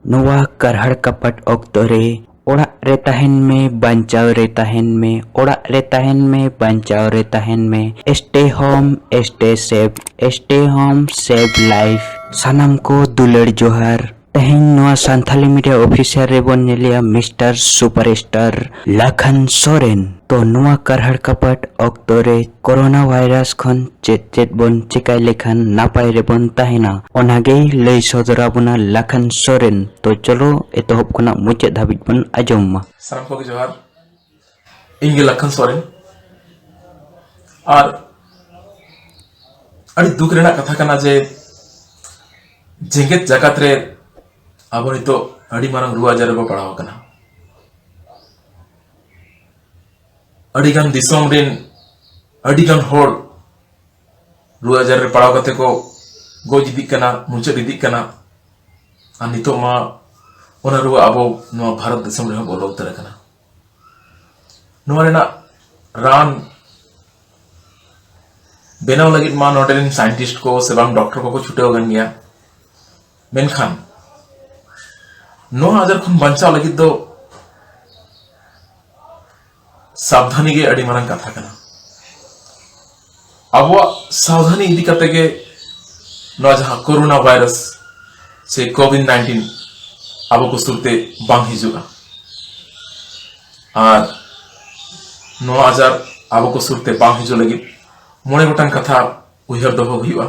ᱱᱚᱣᱟ ᱠᱟᱨᱦᱟᱲ ᱠᱟᱯᱟᱴ ᱚᱠᱛᱚ ᱨᱮ ᱚᱲᱟᱜ ᱨᱮ ᱛᱟᱦᱮᱱ ᱢᱮ ᱵᱟᱧᱪᱟᱣ ᱨᱮ ᱛᱟᱦᱮᱱ ᱢᱮ ᱚᱲᱟᱜ ᱨᱮ ᱛᱟᱦᱮᱱ ᱢᱮ ᱵᱟᱧᱪᱟᱣ ᱨᱮ ᱛᱟᱦᱮᱱ ᱢᱮ stay home stay safe stay home safe life ᱥᱟᱱᱟᱢ ᱠᱚ ᱫᱩᱞᱟᱹᱲ ᱡᱚᱦᱟᱨ ᱛᱮᱦᱮᱧ ᱱᱚᱣᱟ ᱥᱟᱱᱛᱷᱟᱞᱤ ᱢᱤᱰᱤᱭᱟ ᱚᱯᱷᱤᱥᱤᱭᱟᱞ ᱨᱮᱵᱚᱱ ᱧᱮᱞᱮᱭᱟ mister super star Lakhan Soren ᱛᱚ ᱱᱚᱣᱟ ᱠᱟᱨᱦᱟᱲ ᱠᱟᱯᱟᱴ ᱚᱠᱛᱚ ᱨᱮ ᱠᱚᱨᱳᱱᱟ ᱵᱷᱟᱭᱨᱟᱥ ᱠᱷᱚᱱ ᱪᱮᱫ ᱪᱮᱫ ᱵᱚᱱ ᱪᱮᱠᱟᱭ ᱞᱮᱠᱷᱟᱱ ᱱᱟᱯᱟᱭ ᱨᱮᱵᱚᱱ ᱛᱟᱦᱮᱱᱟ ᱚᱱᱟ ᱜᱮᱭ ᱞᱟᱹᱭ ᱥᱚᱫᱚᱨ ᱟᱵᱚᱱᱟ ᱞᱟᱠᱷᱟᱱ ᱥᱚᱨᱮᱱ ᱛᱚ ᱪᱚᱞᱚ ᱮᱛᱚᱦᱚᱵ ᱠᱷᱚᱱᱟᱜ ᱢᱩᱪᱟᱹᱫ ᱫᱷᱟᱹᱵᱤᱡ ᱵᱚᱱ ᱟᱸᱡᱚᱢ ᱢᱟ ᱥᱟᱱᱟᱢ ᱠᱚᱜᱮ ᱡᱚᱦᱟᱨ ᱤᱧ ᱜᱮ ᱞᱟᱠᱷᱟᱱ ᱥᱚᱨᱮᱱ ᱟᱨ ᱟᱹᱰᱤ ᱫᱩᱠ ᱨᱮᱱᱟᱜ ᱠᱟᱛᱷᱟ ᱠᱟᱱᱟ ᱡᱮ ᱡᱮᱜᱮᱛ ᱡᱟᱠᱟᱛ ᱨᱮ ᱟᱵᱚ ᱱᱤᱛᱚᱜ ᱟᱹᱰᱤ ᱢᱟᱨᱟᱝ ᱨᱩᱣᱟᱹ ᱟᱡᱟᱨ ᱨᱮᱵᱚ ᱯᱟᱲᱟᱣ ᱟᱠᱟᱱᱟ ᱟᱹᱰᱤ ᱜᱟᱱ ᱫᱤᱥᱚᱢ ᱨᱮᱱ ᱟᱹᱰᱤ ᱜᱟᱱ ᱦᱚᱲ ᱨᱩᱣᱟᱹ ᱟᱡᱟᱨ ᱨᱮ ᱯᱟᱲᱟᱣ ᱠᱟᱛᱮ ᱠᱚ ᱜᱚᱡ ᱤᱫᱤᱜ ᱠᱟᱱᱟ ᱢᱩᱪᱟᱹᱫ ᱤᱫᱤᱜ ᱠᱟᱱᱟ ᱟᱨ ᱱᱤᱛᱚᱜ ᱢᱟ ᱚᱱᱟ ᱨᱩᱣᱟᱹ ᱟᱵᱚ ᱱᱚᱣᱟ ᱵᱷᱟᱨᱚᱛ ᱫᱤᱥᱚᱢ ᱨᱮᱦᱚᱸ ᱵᱚᱞᱚ ᱩᱛᱟᱹᱨ ᱟᱠᱟᱱᱟ ᱱᱚᱣᱟ ᱨᱮᱱᱟᱜ ᱨᱟᱱ ᱵᱮᱱᱟᱣ ᱞᱟᱹᱜᱤᱫ ᱢᱟ ᱱᱚᱰᱮ ᱨᱮᱱ ᱥᱟᱭᱮᱱᱴᱤᱥᱴ ᱠᱚ ᱥᱮ ᱵᱟᱝ ᱰᱚᱠᱴᱚᱨ ᱠᱚᱠᱚ ᱪᱷᱩᱴᱟᱹᱣ ᱟᱠᱟᱱ ᱜᱮᱭᱟ ᱢᱮᱱᱠᱷᱟᱱ ᱱᱚᱣᱟ ᱟᱡᱟᱨ ᱠᱷᱚᱱ ᱵᱟᱧᱪᱟᱣ ᱞᱟᱹᱜᱤᱫ ᱫᱚ ᱥᱟᱵᱫᱷᱟᱱᱤ ᱜᱮ ᱟᱹᱰᱤ ᱢᱟᱨᱟᱝ ᱠᱟᱛᱷᱟ ᱠᱟᱱᱟ ᱟᱵᱚᱣᱟᱜ ᱥᱟᱵᱫᱷᱟᱱᱤ ᱤᱫᱤ ᱠᱟᱛᱮ ᱜᱮ ᱱᱚᱣᱟ ᱡᱟᱦᱟᱸ ᱠᱳᱨᱳᱱᱟ ᱵᱷᱟᱭᱨᱟᱥ ᱥᱮ ᱠᱳᱵᱷᱤᱰ ᱱᱟᱭᱤᱱᱴᱤᱱ ᱟᱵᱚ ᱠᱚ ᱥᱩᱨᱛᱮ ᱵᱟᱝ ᱦᱤᱡᱩᱜᱼᱟ ᱟᱨ ᱱᱚᱣᱟ ᱟᱡᱟᱨ ᱟᱵᱚ ᱠᱚ ᱥᱩᱨᱛᱮ ᱵᱟᱝ ᱦᱤᱡᱩᱜ ᱞᱟᱹᱜᱤᱫ ᱢᱚᱬᱮ ᱜᱚᱴᱟᱝ ᱠᱟᱛᱷᱟ ᱩᱭᱦᱟᱹᱨ ᱫᱚᱦᱚ ᱦᱩᱭᱩᱜᱼᱟ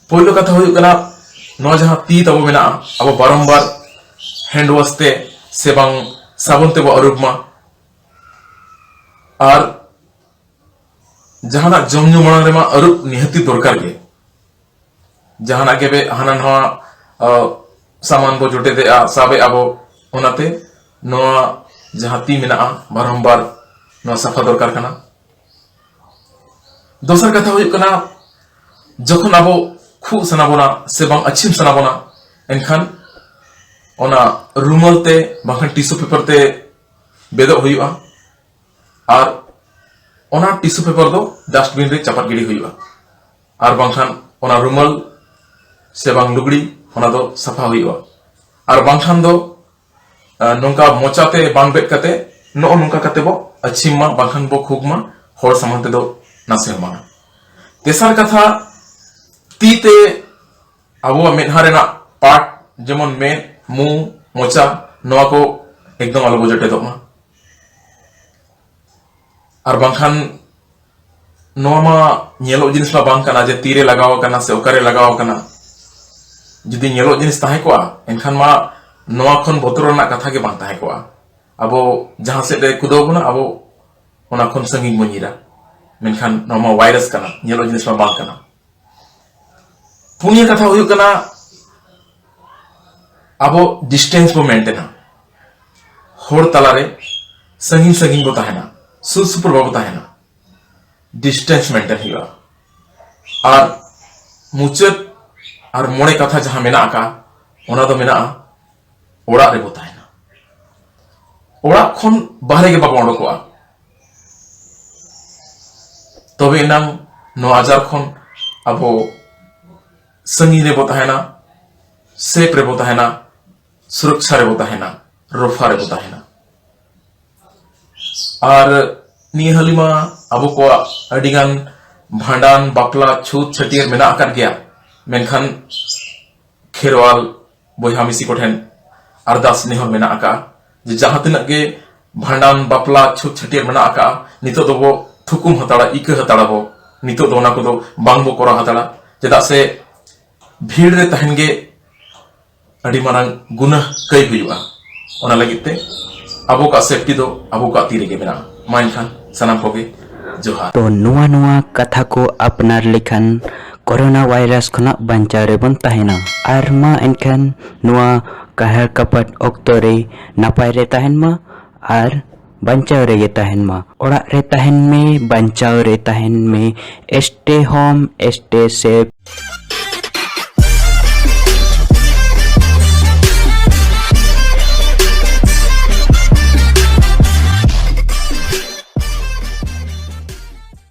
ᱯᱳᱭᱞᱳ ᱠᱟᱛᱷᱟ ᱦᱩᱭᱩᱜ ᱠᱟᱱᱟ ᱱᱚᱣᱟ ᱡᱟᱦᱟᱸ ᱛᱤ ᱛᱟᱵᱚ ᱢᱮᱱᱟᱜᱼᱟ ᱟᱵᱚ ᱵᱟᱨᱚᱢᱵᱟᱨ ᱦᱮᱱᱰ ᱣᱟᱥ ᱛᱮ ᱥᱮ ᱵᱟᱝ ᱥᱟᱵᱚᱱ ᱛᱮᱵᱚ ᱟᱹᱨᱩᱵ ᱢᱟ ᱟᱨ ᱡᱟᱦᱟᱱᱟᱜ ᱡᱚᱢ ᱧᱩ ᱢᱟᱲᱟᱝ ᱨᱮᱢᱟ ᱟᱹᱨᱩᱵ ᱱᱤᱦᱟᱹᱛᱤ ᱫᱚᱨᱠᱟᱨ ᱜᱮ ᱡᱟᱦᱟᱱᱟᱜ ᱜᱮ ᱦᱟᱱᱟ ᱱᱟᱣᱟ ᱥᱟᱢᱟᱱ ᱵᱚ ᱡᱚᱴᱮᱫᱮᱜᱼᱟ ᱥᱟᱵᱮ ᱟᱵᱚ ᱚᱱᱟᱛᱮ ᱱᱚᱣᱟ ᱡᱟᱦᱟᱸ ᱛᱤ ᱢᱮᱱᱟᱜᱼᱟ ᱵᱟᱨᱚᱢᱵᱟᱨ ᱱᱚᱣᱟ ᱥᱟᱯᱷᱟ ᱫᱚᱨᱠᱟᱨ ᱠᱟᱱᱟ ᱫᱚᱥᱟᱨ ᱠᱟᱛᱷᱟ ᱦᱩᱭᱩᱜ ᱠᱟᱱᱟ ᱡᱚᱠᱷᱚᱱ ᱟᱵᱚ ᱠᱷᱩᱜ ᱥᱟᱱᱟ ᱵᱚᱱᱟ ᱥᱮ ᱵᱟᱝ ᱟᱪᱷᱤᱢ ᱥᱟᱱᱟ ᱵᱚᱱᱟ ᱮᱱᱠᱷᱟᱱ ᱚᱱᱟ ᱨᱩᱢᱟᱞ ᱛᱮ ᱵᱟᱝᱠᱷᱟᱱ ᱴᱤᱥᱩ ᱯᱮᱯᱟᱨ ᱛᱮ ᱵᱮᱫᱚᱜ ᱦᱩᱭᱩᱜᱼᱟ ᱟᱨ ᱚᱱᱟ ᱴᱤᱥᱩ ᱯᱮᱯᱟᱨ ᱫᱚ ᱰᱟᱥᱴᱵᱤᱱ ᱨᱮ ᱪᱟᱯᱟᱫ ᱜᱤᱰᱤ ᱦᱩᱭᱩᱜᱼᱟ ᱟᱨ ᱵᱟᱝᱠᱷᱟᱱ ᱚᱱᱟ ᱨᱩᱢᱟᱞ ᱥᱮ ᱵᱟᱝ ᱞᱩᱜᱽᱲᱤ ᱚᱱᱟ ᱫᱚ ᱥᱟᱯᱷᱟ ᱦᱩᱭᱩᱜᱼᱟ ᱟᱨ ᱵᱟᱝᱠᱷᱟᱱ ᱫᱚ ᱱᱚᱝᱠᱟ ᱢᱚᱪᱟᱛᱮ ᱵᱟᱝ ᱵᱮᱫ ᱠᱟᱛᱮ ᱱᱚᱜᱼᱚ ᱱᱚᱝᱠᱟ ᱠᱟᱛᱮ ᱵᱚ ᱟᱹᱪᱷᱤᱢ ᱢᱟ ᱵᱟᱝᱠᱷᱟᱱ ᱵᱚ ᱠᱷᱩᱜ ᱢᱟ ᱦᱚᱲ ᱥᱟᱢᱟᱝ ᱛᱮᱫᱚ ᱱᱟᱥᱮ ᱦᱚᱸ ᱵᱟᱝᱟ ᱛᱮᱥᱟᱨ ᱠᱟᱛᱷᱟ ᱛᱤ ᱛᱮ ᱟᱵᱚᱣᱟᱜ ᱢᱮᱫᱦᱟ ᱨᱮᱱᱟᱜ ᱯᱟᱴ ᱡᱮᱢᱚᱱ ᱢᱮᱫ ᱢᱩ ᱢᱚᱪᱟ ᱱᱚᱣᱟ ᱠᱚ ᱮᱠᱫᱚᱢ ᱟᱞᱚ ᱵᱚ ᱡᱚᱴᱮᱫᱚᱜ ᱢᱟ ᱟᱨ ᱵᱟᱝᱠᱷᱟᱱ ᱱᱚᱣᱟ ᱢᱟ ᱧᱮᱞᱚᱜ ᱡᱤᱱᱤᱥ ᱢᱟ ᱵᱟᱝ ᱠᱟᱱᱟ ᱡᱮ ᱛᱤᱨᱮ ᱞᱟᱜᱟᱣ ᱟᱠᱟᱱᱟ ᱥᱮ ᱚᱠᱟᱨᱮ ᱞᱟᱜᱟᱣ ᱟᱠᱟᱱᱟ ᱡᱩᱫᱤ ᱧᱮᱞᱚᱜ ᱡᱤᱱᱤᱥ ᱛᱟᱦᱮᱸ ᱠᱚᱜᱼᱟ ᱮᱱᱠᱷᱟᱱ ᱢᱟ ᱱᱚᱣᱟ ᱠᱷᱚᱱ ᱵᱚᱛᱚᱨ ᱨᱮᱱᱟᱜ ᱠᱟᱛᱷᱟ ᱜᱮ ᱵᱟᱝ ᱛᱟᱦᱮᱸ ᱠᱚᱜᱼᱟ ᱟᱵᱚ ᱡᱟᱦᱟᱸ ᱥᱮᱫ ᱨᱮ ᱠᱩᱫᱟᱹᱣ ᱵᱚᱱᱟ ᱟᱵᱚ ᱚᱱᱟ ᱠᱷᱚᱱ ᱥᱟᱺᱜᱤᱧ ᱵᱚᱱ ᱧᱤᱨᱟ ᱢᱮᱱᱠᱷᱟᱱ ᱱᱚᱣᱟ ᱢᱟ ᱵᱷᱟᱭᱨᱟᱥ ᱠᱟᱱᱟ ᱧᱮᱞᱚᱜ ᱡᱤᱱᱤᱥ ᱢᱟ ᱵᱟᱝ ᱠᱟᱱᱟ ᱯᱩᱱᱭᱟᱹ ᱠᱟᱛᱷᱟ ᱦᱩᱭᱩᱜ ᱠᱟᱱᱟ ᱟᱵᱚ ᱰᱤᱥᱴᱮᱱᱥ ᱵᱚ ᱢᱮᱱᱴᱮᱱᱟ ᱦᱚᱲ ᱛᱟᱞᱟᱨᱮ ᱥᱟᱺᱜᱤᱧ ᱥᱟᱺᱜᱤᱧ ᱵᱚ ᱛᱟᱦᱮᱱᱟ ᱥᱩᱨ ᱥᱩᱯᱩᱨ ᱵᱟᱵᱚ ᱛᱟᱦᱮᱱᱟ ᱰᱤᱥᱴᱮᱱᱥ ᱢᱮᱱᱴᱮᱱ ᱦᱩᱭᱩᱜᱼᱟ ᱟᱨ ᱢᱩᱪᱟᱹᱫ ᱟᱨ ᱢᱚᱬᱮ ᱠᱟᱛᱷᱟ ᱡᱟᱦᱟᱸ ᱢᱮᱱᱟᱜ ᱟᱠᱟᱫ ᱚᱱᱟ ᱫᱚ ᱢᱮᱱᱟᱜᱼᱟ ᱚᱲᱟᱜ ᱨᱮᱵᱚ ᱛᱟᱦᱮᱱᱟ ᱚᱲᱟᱜ ᱠᱷᱚᱱ ᱵᱟᱦᱨᱮ ᱜᱮ ᱵᱟᱵᱚ ᱚᱰᱚᱠᱚᱜᱼᱟ ᱛᱚᱵᱮ ᱮᱱᱟᱝ ᱱᱚᱣᱟ ᱟᱡᱟᱨ ᱠᱷᱚᱱ ᱟᱵᱚ ᱥᱟᱺᱜᱤᱧ ᱨᱮᱵᱚ ᱛᱟᱦᱮᱱᱟ ᱥᱮᱯ ᱨᱮᱵᱚ ᱛᱟᱦᱮᱱᱟ ᱥᱩᱨᱚᱠᱪᱷᱟ ᱨᱮᱵᱚ ᱛᱟᱦᱮᱱᱟ ᱨᱚᱯᱷᱟ ᱨᱮᱵᱚ ᱛᱟᱦᱮᱱᱟ ᱟᱨ ᱱᱤᱭᱟᱹ ᱦᱟᱹᱞᱤᱢᱟ ᱟᱵᱚ ᱠᱚᱣᱟᱜ ᱟᱹᱰᱤᱜᱟᱱ ᱵᱷᱟᱸᱰᱟᱱ ᱵᱟᱯᱞᱟ ᱪᱷᱩᱛ ᱪᱷᱟᱹᱴᱭᱟᱹᱨ ᱢᱮᱱᱟᱜ ᱟᱠᱟᱫ ᱜᱮᱭᱟ ᱢᱮᱱᱠᱷᱟᱱ ᱠᱷᱮᱨᱣᱟᱞ ᱵᱚᱭᱦᱟ ᱢᱤᱥᱤ ᱠᱚ ᱴᱷᱮᱱ ᱟᱨᱫᱟᱥ ᱱᱮᱦᱚᱨ ᱢᱮᱱᱟᱜ ᱟᱠᱟᱫᱼᱟ ᱡᱮ ᱡᱟᱦᱟᱸ ᱛᱤᱱᱟᱹᱜ ᱜᱮ ᱵᱷᱟᱸᱰᱟᱱ ᱵᱟᱯᱞᱟ ᱪᱷᱩᱛ ᱪᱷᱟᱹᱴᱭᱟᱹᱨ ᱢᱮᱱᱟᱜ ᱟᱠᱟᱫᱼᱟ ᱱᱤᱛᱚᱜ ᱫᱚᱵᱚ ᱛᱷᱩᱠᱩᱢ ᱦᱟᱛᱟᱲᱟ ᱤᱠᱟᱹ ᱦᱟᱛᱟᱲᱟ ᱵᱚ ᱱᱤᱛᱚᱜ ᱫᱚ ᱚᱱᱟ ᱠᱚᱫᱚ ᱵᱟᱝ ᱵᱚ ᱠᱚᱨᱟᱣ ᱦᱟᱛᱟᱲᱟ ᱪᱮᱫᱟᱜ ᱥᱮ ᱵᱷᱤᱲ ᱨᱮ ᱛᱟᱦᱮᱱ ᱜᱮ ᱟᱹᱰᱤ ᱢᱟᱨᱟᱝ ᱜᱩᱱᱟᱹ ᱠᱟᱹᱭ ᱦᱩᱭᱩᱜᱼᱟ ᱚᱱᱟ ᱞᱟᱹᱜᱤᱫ ᱛᱮ ᱟᱵᱚ ᱠᱚᱣᱟᱜ ᱥᱮᱯᱴᱤ ᱫᱚ ᱟᱵᱚ ᱠᱚᱣᱟᱜ ᱛᱤ ᱨᱮᱜᱮ ᱢᱮᱱᱟᱜᱼᱟ ᱢᱟ ᱮᱱᱠᱷᱟᱱ ᱥᱟᱱᱟᱢ ᱠᱚᱜᱮ ᱡᱚᱦᱟᱨ ᱛᱚ ᱱᱚᱣᱟ ᱱᱚᱣᱟ ᱠᱟᱛᱷᱟ ᱠᱚ ᱟᱯᱱᱟᱨ ᱞᱮᱠᱷᱟᱱ ᱠᱚᱨᱳᱱᱟ ᱵᱷᱟᱭᱨᱟᱥ ᱠᱷᱚᱱᱟᱜ ᱵᱟᱧᱪᱟᱣ ᱨᱮᱵᱚᱱ ᱛᱟᱦᱮᱱᱟ ᱟᱨ ᱢᱟ ᱮᱱᱠᱷᱟᱱ ᱱᱚᱣᱟ ᱠᱟᱦᱟᱲ ᱠᱟᱯᱟᱴ ᱚᱠᱛᱚ ᱨᱮ ᱱᱟᱯᱟᱭ ᱨᱮ ᱛᱟᱦᱮᱱ ᱢᱟ ᱟᱨ ᱵᱟᱧᱪᱟᱣ ᱨᱮᱜᱮ ᱛᱟᱦᱮᱱ ᱢᱟ ᱚᱲᱟᱜ ᱨᱮ ᱛᱟᱦᱮᱱ ᱢᱮ ᱵᱟᱧᱪᱟᱣ ᱨᱮ ᱛᱟᱦᱮᱱ ᱢᱮ ᱥᱴᱮ ᱦᱳᱢ ᱥᱴᱮ ᱥᱮᱯ